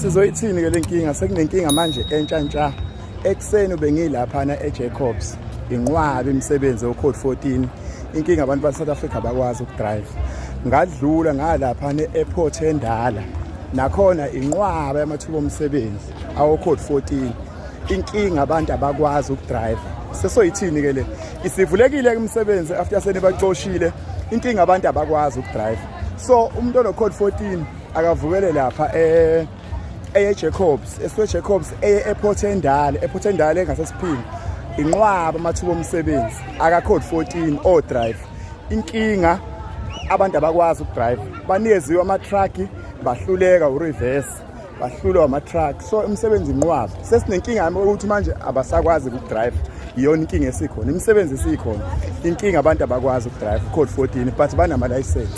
sizoyithini ke lenkinga sekunenkinga manje entsha ntsha ekuseni bengilaphana eJacobs inqwabe imisebenzi ocode 14 inkinga abantu baseSouth Africa bakwazi ukudrive ngadlula ngalaphana e-airport endala nakhona inqwaba yamathuba omsebenzi awocode 14 inkinga abantu abakwazi ukudrive sesoyithini ke le isivulekile ke umsebenzi after senibacoshile inkinga abantu abakwazi ukudrive so umuntu onocode 14 akavukele lapha eh eye Jacobs eswe Jacobs eye ePort Endale ePort Endale engasesiphini inqwaba amathuba omsebenzi aka code 14 o drive inkinga abantu abakwazi ukudrive baniyeziwe ama truck bahluleka u reverse bahlulwa ama truck so umsebenzi inqwaba sesinenkinga ukuthi manje abasakwazi ukudrive iyona inkinga esikhona imisebenzi isikhona inkinga abantu abakwazi ukudrive code 14 but banama license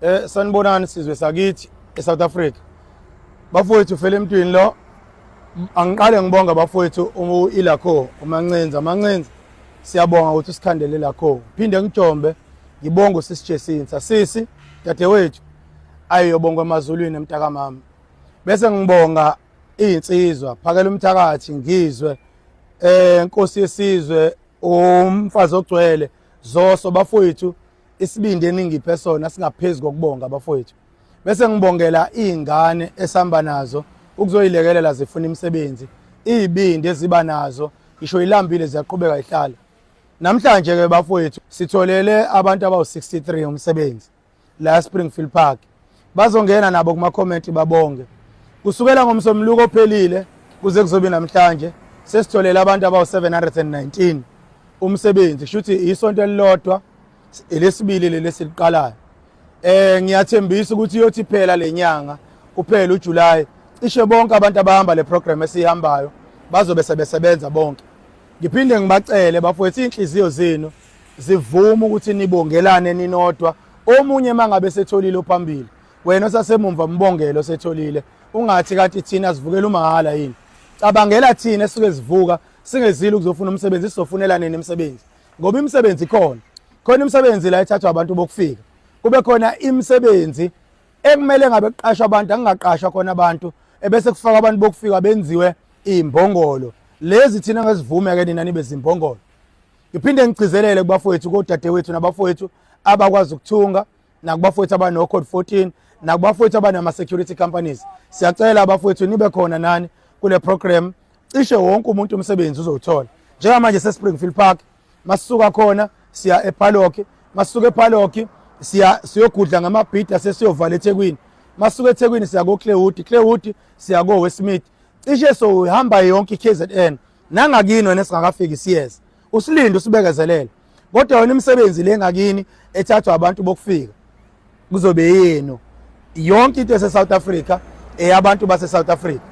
Eh sanibonani sizwe sakithi eSouth Africa. Bafowethu fele emntwini lo angiqale ngibonga bafowethu uIlakho uMancenza Mancenza siyabonga ukuthi usikhandele lakho phinde ngijombe ngibonga usisi Jesinsa sisi dadewethu ayiyobonga emazulwini emtaka mama bese ngibonga izinsizwa phakela umthakathi ngizwe eh inkosi yesizwe umfazi ogcwele zoso bafowethu isibindi eningiphe sona singaphezu kokubonga abafowethu bese ngibongela iy'ngane esihamba nazo ukuzoyilekelela zifuna imisebenzi iy'bindi eziba nazo ngisho ilambile ziyaqhubeka ihlala namhlanje-ke bafowethu sitholele abantu abawu-63 umsebenzi la springfield park bazongena nabo kuma-comment babonge kusukela ngomsombuluko ophelile kuze kuzobe namhlanje sesitholele abantu abawu-719 umsebenzi kusho ukuthi isonto elilodwa elesibili leli esiliqalayo eh ngiyathembisa ukuthi iyothi phela lenyanga kuphela uJuly cishe bonke abantu abahamba le program esihambayo bazobe sebesebenza bonke ngiphinde ngibacele bafowethu inhliziyo zenu zivuma ukuthi nibongelane ninodwa omunye mangabe setholile ophambili wena osasemumva mbongelo setholile ungathi kathi thina sivukela umahala yini cabangela thina esuke sivuka singezile ukuzofuna umsebenzi sizofunela nini imisebenzi ngoba imisebenzi ikhona khona imisebenzi la ethathwa abantu bokufika kube khona imisebenzi ekumele ngabe kuqashwa abantu angingaqashwa khona abantu ebese kufaka abantu bokufika benziwe imbongolo lezi thina ngesivume ke nina nibe zimbongolo Ngiphinde ngigcizelele kubafowethu kodadewethu nabafowethu abakwazi ukuthunga nakubafowethu abano code 14 nakubafowethu abanama security companies. Siyacela abafowethu nibe khona nani kule program cishe wonke umuntu umsebenzi uzowuthola. Njengamanje seSpringfield Park masisuka khona siya ePalock masisuka ePalock siya siyogudla ngamabhida sesiyovala eThekwini masuke eThekwini siya ko Clearwood Clearwood siya ko Westmead cishe so uhamba yonke iKZN nangakini wena singakafiki siyeza usilinde usibekezelele kodwa yona imisebenzi le ngakini ethathwa abantu bokufika kuzobe yenu yonke into ese-south africa eyabantu base-south africa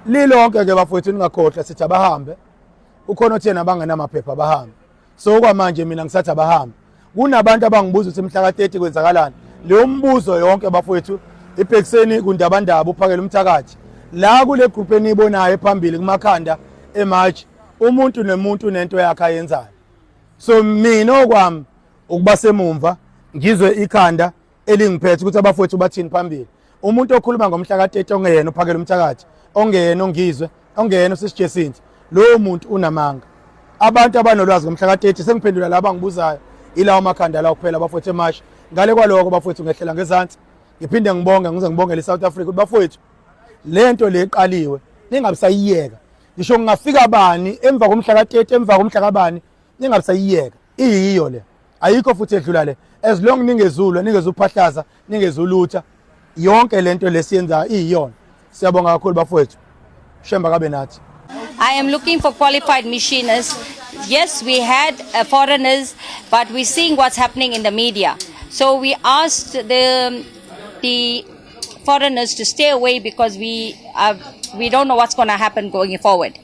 lilonke-ke bafowethu ningakhohlwa sithi abahambe ukhona othena abangenamaphepha abahambe so kwamanje mina ngisathi abahambe kunabantu abangibuza ukuthi mhla ka-30 kwenzakalani leyo mbuzo yonke bafowethu ibhekiseni kundabandaba uphakele umthakathi la kule group eniyibonayo ephambili kumakhanda emarch umuntu nemuntu nento yakhe ayenzayo so mina okwami ukuba semumva ngizwe ikhanda elingiphethe ukuthi abafowethu bathini phambili umuntu okhuluma ngomhla ka-30 ongeyena uphakela umthakathi ongeyena ongizwe ongeyena usisijesinti lowo muntu unamanga abantu abanolwazi ngomhla ka-30 sengiphendula laba ngibuzayo ilawo makhanda lawo kuphela bafowethu emasha ngale kwaloko bafowethu ngehlela ngezansi ngiphinde ngibonge ngize ngibongele i-south africa ukuthi bafowethu le nto le iqaliwe ningabisayiyeka ngisho ngingafika bani emva komhla ka-30 emva komhla kabani ningabisayiyeka iyiyo le ayikho futhi edlula le as long ningezulwe ningezuphahlaza ningezulutha yonke lento lesiyenzayo iyiyona siyabonga kakhulu bafowethu shemba kabe nathi I am looking for qualified machinists. Yes, we had uh, foreigners, but we're seeing what's happening in the media. So we asked the the foreigners to stay away because we are, we don't know what's going to happen going forward.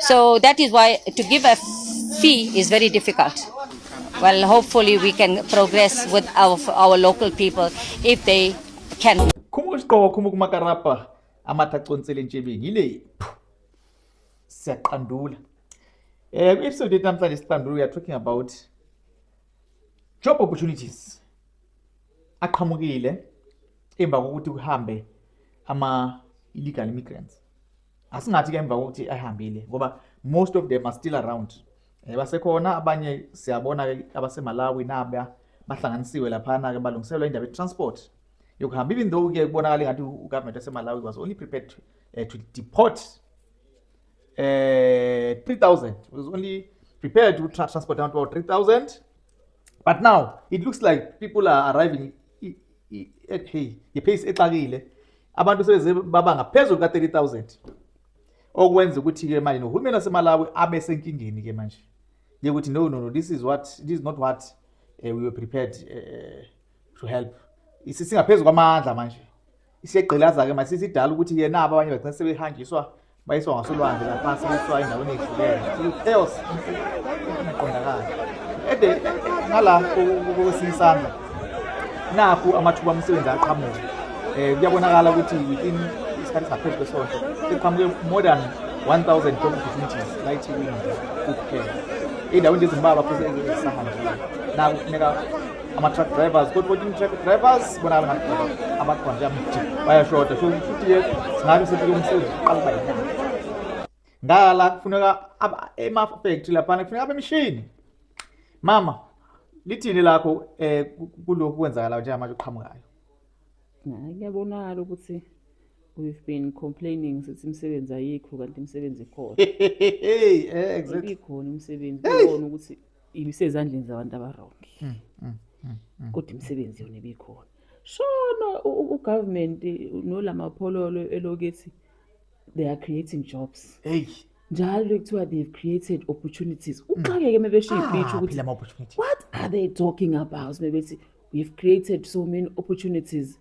So that is why to give a fee is very difficult. Well, hopefully we can progress with our, our local people if they can. Khumuka isiqoko khumuka umakarapa amatha aconsela entshebeni yile siyaqandula. Eh ku episode yethu namhlanje siqandula we are talking about job opportunities aqhamukile emva kokuthi kuhambe ama illegal immigrants. asingathi ke emva kokuthi ayihambile ngoba most of them are still around eh, basekhona abanye siyabona ke abasemalawi naba bahlanganisiwe laphana ke balungiselwa indaba ye-transport yokuhamba even though ke kubonakala engathi ugovernment wasemalawi was only prepared to, uh, to deport uh, eh, 3000 was only prepared to transport down to 3000 but now it looks like people are arriving ngepheyisi exakile abantu sebeze baba ngaphezulu ka-30000 okwenza ukuthi-ke manje nohulumeni wasemalawi abe senkingeni-ke manje yekuthi no no no this is what this is not what uh, we were prepared uh, to help singaphezu kwamandla manje isegqilaza-ke manje sisidala ukuthi yena aba abanye bagcina sebehanjiswa bayiswa ngasolwandle laphansi bayiswa endaweni ehlukene chaos ingaqondakali ede ngala kwesinye isandla nakhu amathuba omsebenzi aqhamuka um kuyabonakala ukuthi within isikhathi singaphezu kwesonto sekuqhamuke more than 1000 job opportunities la ithekweni nje kuphela iy'ndaweni nje ezimbalwa futhi ezisahanjile naku kufuneka ama-truck drivers kodwa ukuthi i-truck drivers bona abakhona njengamthi bayashoda so futhi yethu singabe sithi umsebenzi uqala uba yinyanga ngala kufuneka emafactory laphana kufuneka abemishini mama lithini lakho um eh, kulokhu kwenzakalayo njengamanje kuqhamukayo hayi kuyabonakala ukuthi we've been complaining sithi imisebenzi ayikho kanti imisebenzi ikhona hey eh, exactly ikhona imisebenzi kubona ukuthi ibisezandleni zabantu abarongi mm, mm, mm, mm. kodwa imisebenzi yona ibikhona shona ugovernment nolamaphololo elokethi they are creating jobs eyi njalo kuthiwa they've created opportunities mm. uxakeke uma besho ibhithi ah, ukuthi what are they talking about uma bethi we've created so many opportunities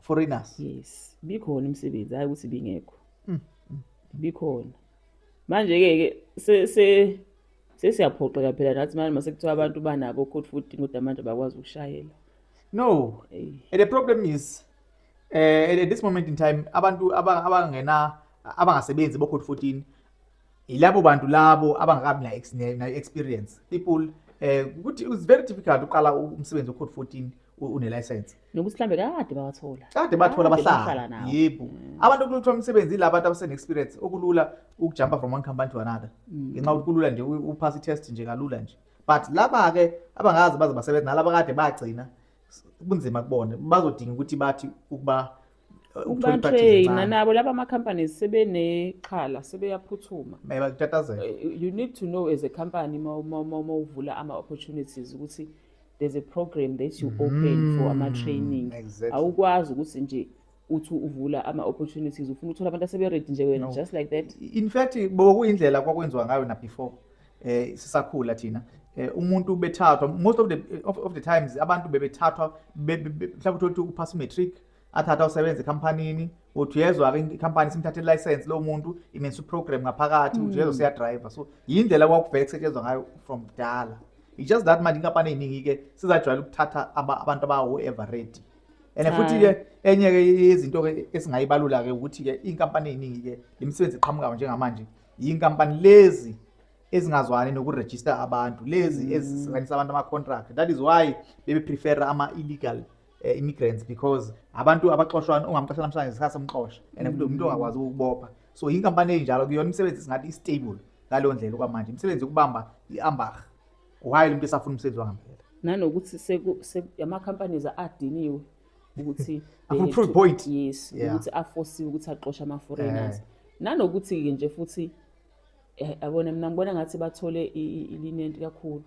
foreigners yes bikhona imisebenzi hayi ukuthi bingekho mm, mm, mm. bikhona manje ke ke se se sesiyaphoxeka phela nathi manje mase kuthiwa abantu banabo code 14 kodwa manje bakwazi ukushayela no hey. and the problem is uh, at this moment in time abantu abangena abangasebenzi bo code 14 yilabo bantu labo abangakabi na na experience people eh ukuthi it's very difficult uqala umsebenzi ocode 14 une license nokuthi mhlambe kade bawathola kade bathola abahlala yebo mm. abantu kuluthola umsebenzi la bantu abasene experience okulula ukujumpa from one company to another mm. ngenxa ukuthi kulula nje upass i test nje kalula nje but laba ke abangazi baze basebenza nalaba kade bagcina kunzima kubona bazodinga ukuthi bathi ukuba ukuthola ipaki Batrain ngencane nabo laba ama companies sebenexhala sebeyaphuthuma. baye bakutatazela Eh, You need to know as a company uma uma uma uma uvula ama opportunities ukuthi there's a program that you open for ama training. Mm-hmm. exactly. Awukwazi ukuthi nje uthi uvula ama opportunities ufuna uthola abantu asebe ready nje wena No. just like that. in fact bokuyindlela kwakwenziwa ngayo na before eh sisakhula thina eh umuntu bethathwa most of the of, of the times abantu bebethathwa be- be- be- mhlawumbe uthole ukuthi uphasa matric athatha usebenza ekhampanini uthi uyezwa-ke ikhampani simthathe license lowo muntu imensa uprogram ngaphakathi uthi uyezwa hmm. siyadriver so yindlela kwakuvele kusetshenzwa ngayo from kudala it's just that manje inkampani ey'ningi-ke sizajwayela ukuthatha abantu abawu-everready and futhi-ke enye-ke yezinto-ke esingayibalula-ke ukuthi-ke iy'nkampani ey'ningi-ke le misebenzi eqhamukayo njengamanje yiy'nkampani lezi ezingazwani nokurejista abantu lezi hmm. ezisinganisa abantu ama-contract that is why bebeprefera ama-illegal eh, immigrants because abantu abaxoshwana ungamxosha namhlanje isikhathi somxosha and futhi umuntu ongakwazi ukubopha so inkampani enjalo kuyona imisebenzi singathi istable ngaleyo ndlela okwamanje imisebenzi yokubamba i-ambarh why umuntu esafuna umsebenzi wangempela nanokuthi seku- se- ama-companies adiniwe ukuthi Afuna eh, proof to- point. yes Yeah. ukuthi afosiwe ukuthi axoshe ama-foreigners nanokuthi-ke nje futhi eh, abona mina ngibona ngathi bathole i- i- ilinenti kakhulu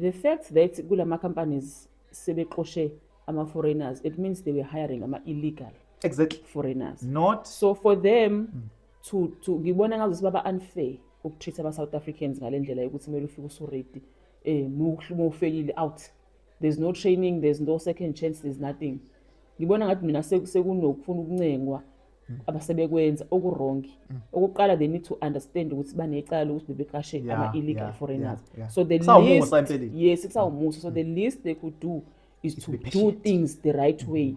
the fact that kula ma-companies sebexoshe ama foreigners it means they were hiring ama illegal exactly foreigners not so for them mm. to to ngibona ngazo sibaba unfair ukutreat ama South Africans ngalendlela yokuthi kumele ufike usuredi eh uma ufeyile out there's no training there's no second chance there's nothing ngibona ngathi mina sekunokufuna ukuncengwa Mm. abasebekwenza okuwrongi mm. okokuqala they need to understand ukuthi banecala lokuthi bebeqashe ama-illegal foreigners so the least yes kusawumusa so the mm. least they could do is to do things the right way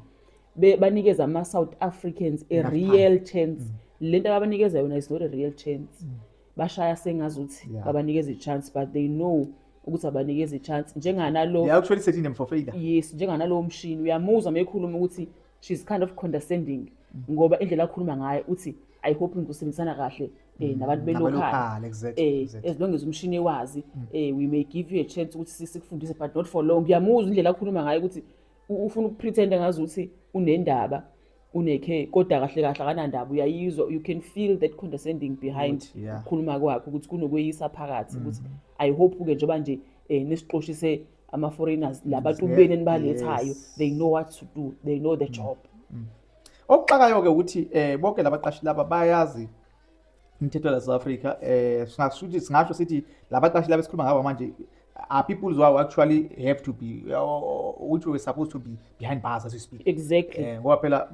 banikeza ama-south africans a real chance le nto ababanikeza yona is not a real chance bashaya sengazuthi babanikeza i-chance but they know ukuthi abanikeza i-chance njenganalo yes njenganalowo mshini uyamuzwa uma ekhuluma ukuthi she's kind of condescending ngoba indlela akhuluma ngayo uthi i hope ngikusebenzisana kahle eh nabantu belocal Nabalocal, exactly, eh exactly. as long as umshini ewazi eh we may give you a chance ukuthi sisi kufundise but not for long ngiyamuzwa indlela akhuluma ngayo ukuthi u- ufuna ukupretenda ngazi ukuthi unendaba unekhe kodwa kahle kahle akanandaba uyayizwa you can feel that condescending behind Ukuthi, yeah. ukukhuluma kwakhe ukuthi kunokweyisa phakathi ukuthi i hope ke njengoba nje eh nesiqoshi se ama-foreigners la bantu benu enibalethayo they know what to do they know the mm. job mm. okuxakayo-ke ukuthi um bonke la baqashi laba bayazi imithetho la south africa um singasho ukuthi singasho sithi la baqashi laba esikhuluma ngabo manje are people who are actually have to be or, which were supposed to be behind bars as we speak exactly eh, ngoba phela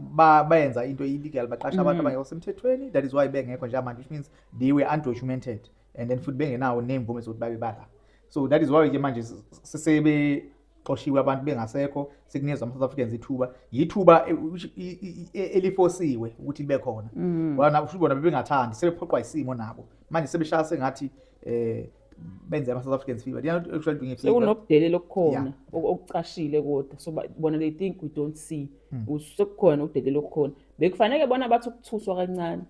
bayenza into illegal baqasha abantu mm. abangekho semthethweni that is why bengekho njengamanje which means they were undocumented and then futhi bengenawo nemvume zokuthi babe bala so that is why ke manje sebe xoshiwe abantu bengasekho sekunikeza ama-south africans ithuba yithuba e, e, e, elifosiwe ukuthi libe khona mm. futhi bona bebengathandi sebephoqwa isimo nabo manje sebeshaya sengathi um benze ama-south africans fever sekunokudelela okukhona okucashile kodwa so bona they think we don't see mm. sekukhona ukudelela okukhona bekufaneke bona bathi ukuthuswa kancane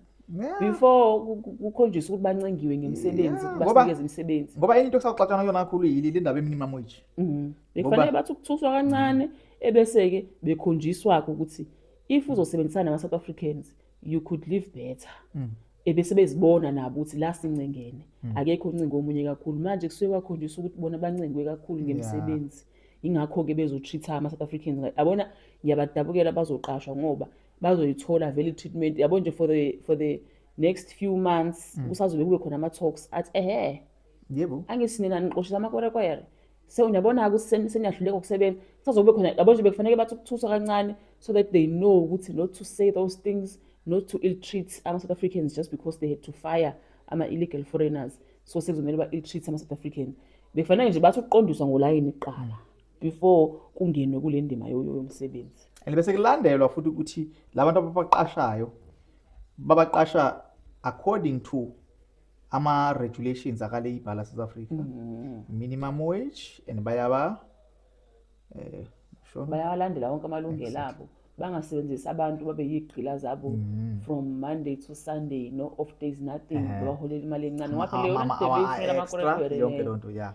before kukhonjiswa ukuthi bancengiwe ngemisebenzi basikeze imisebenzi ngoba enye into esaxatshana kuyona kakhulu yili le ndaba eminimum wage mhm. bekufanele bathi ukuthuswa kancane mhm. ebese-ke bekhonjiswa-ke ukuthi if uzosebenzisana nama-south africans you could live better mhm. ebese bezibona nabo ukuthi la sincengene akekho uncingo omunye kakhulu manje kusuke kwakhonjiswa ukuthi bona bancengwe kakhulu ngemisebenzi ingakho-ke bezotreat-a ama-south africans abona ngiyabadabukela bazoqashwa ngoba bazoyithola vele i-treatment yabo nje for the for the next few months mm. kusazobe kube khona ama-talks athi ehe yebo angisinina niqoshisa amakwerekwere so niyabona-ke seniyahluleka ukusebenza kusazokube khona yabo nje bekufanele bathi ukuthuswa kancane so that they know ukuthi not to say those things not to ill treat ama-south africans just because they had to fire ama-illegal foreigners so sekuzomele ba-ill treat ama-south africans bekufanele nje bathi ukuqondiswa ngolayini kuqala before kungenwe kule ndima yomsebenzi and bese kulandelwa futhi ukuthi labantu ababaqashayo babaqasha according to ama-regulations akaleyibha la south africa mm -hmm. minimum wage and bayaba eh, sure. bayawalandela wonke amalungelo abo bangasebenzisi abantu babe yigqila zabo mm. from monday to sunday no off days nothing eh. babaholela imali encane ngakho leyo nto beyifuna amakora yonke loo nto ya